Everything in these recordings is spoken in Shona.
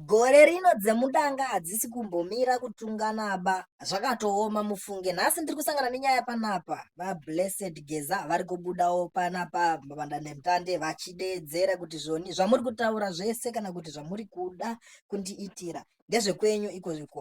Gore rino dzemudanga hadzisi kumbomira kutunganaba zvakatooma mufunge nhasi ndiri kusangana nenyaya panapa vablessed geza vari kubudawo panapa vandandemutande vachideedzera kuti zvoni zvamuri kutaura zvese kana kuti zvamuri kuda kundiitira ndezvekwenyu ikozviko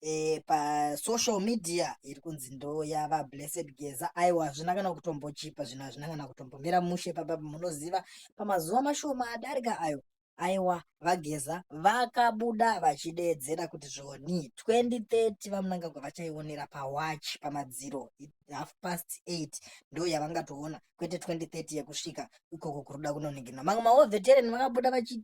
e, pasocial media iri kunzi ndo yava blessed geza aiwa hazvina kana kutombochipa zvino hazvina kana kutombomira mushe papa munoziva pamazuva mashoma adarika ayo aiwa vageza vakabuda vachideedzera kuti zvoni 2030 vamunangagwa vachaionera pawachi pamadziro half past 8 ndo yavangatoona kwete 2030 yekusvika ikoko kuruda kunoninginwa mamwe maovetereni vakabuda vachi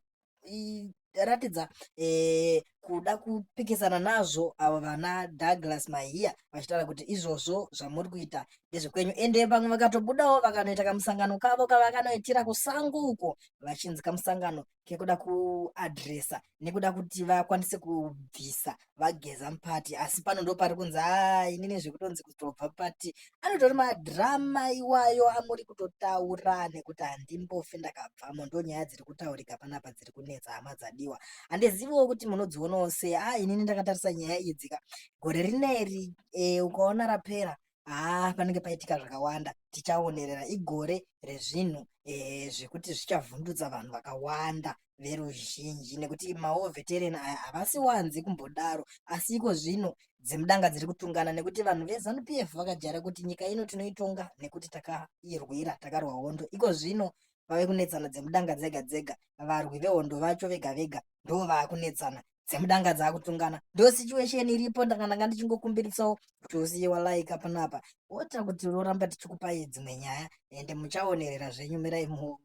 ratidza eh, kuda kupikisana nazvo avo vana Douglas Mahiya vachitaura kuti izvozvo zvamuri kuita ndezvekwenyu ende vamwe vakatobudawo vakanoita kamusangano kavo kavakanoitira kusango uko vachinzi kamusangano kekuda kuadresa nekuda kuti vakwanise kubvisa vageza mupati asi pano ndo pari kunzi haa ini nezvekutonzi kutobva pati anotori madrama iwayo amuri kutotaura nekuti handimbofi ndakabvamo ndo nyaya dziri kutaurika panapa dziri kunetsa hama dzadiwa handiziviwo kuti munodzionawo sei aa inini ndakatarisa nyaya idzika gore rineri e, ukaona rapera haa panenge paitika zvakawanda tichaonerera igore rezvinhu eh, zvekuti zvichavhundutsa vanhu vakawanda veruzhinji nekuti mawo veteran aya havasi wanzi kumbodaro asi iko zvino dzemudanga dziri kutungana nekuti vanhu vezanup f vakajara kuti nyika ino tinoitonga nekuti takairwira takarwa hondo iko zvino vave kunetsana dzemudanga dzega dzega varwi vehondo vacho vega vega ndo vaakunetsana dzemudanga dzakutungana ndo situation iripo ndanga ndanga ndichingokumbiritsawo kuti usiye walaika panapa wota kuti loramba tichikupai dzimwe nyaya ende muchaonerera zvenyu mirai muone